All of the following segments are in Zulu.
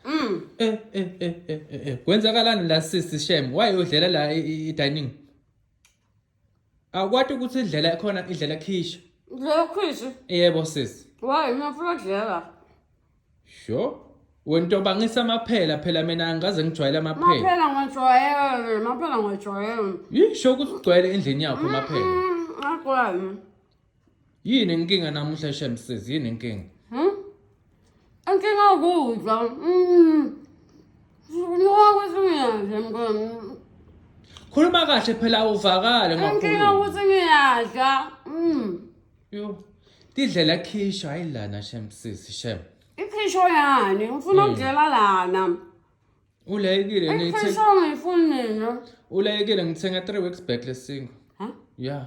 Mm. Eh, eh, eh, eh, eh, eh. Kwenzakalani la sisi shem? Why udlela la i- i- i- dining? Akwati ukuthi idlela khona idlela khisha. Ngizokhishwa. Yebo sisi. Why mina ngifuna ukudlela? Sure. Wento bangisa amaphela phela mina angikaze ngijwayele amaphela. Maphela ngojwayele, maphela ngojwayele. Yisho ukuthi ugcwele endlini yakho amaphela. Mm, akwani. Yini inkinga namuhla shem sis yini inkinga? Hmm? Inkinga ukudla. Mm. Ngikho kwesimanje mngani. Khuluma kahle phela uvakale makhulu. Inkinga ukuthi ngiyadla. Mm. Yo. Tidlela khisho hayi lana shem sis shem. Ikhisho yani ngifuna hmm. ukudlela lana. Ulayekile nithe. Ikhisho ngifuna nina. Ulayekile ngithenga 3 weeks back lesingo. Ha? Yeah.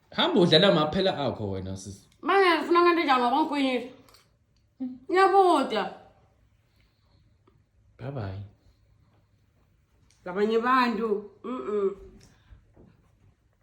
hamba udlala amaphela akho wena sisi manje ngifuna ngento njani ngobangikhwinyisa ngiyabuda bye bye labanye abantu mm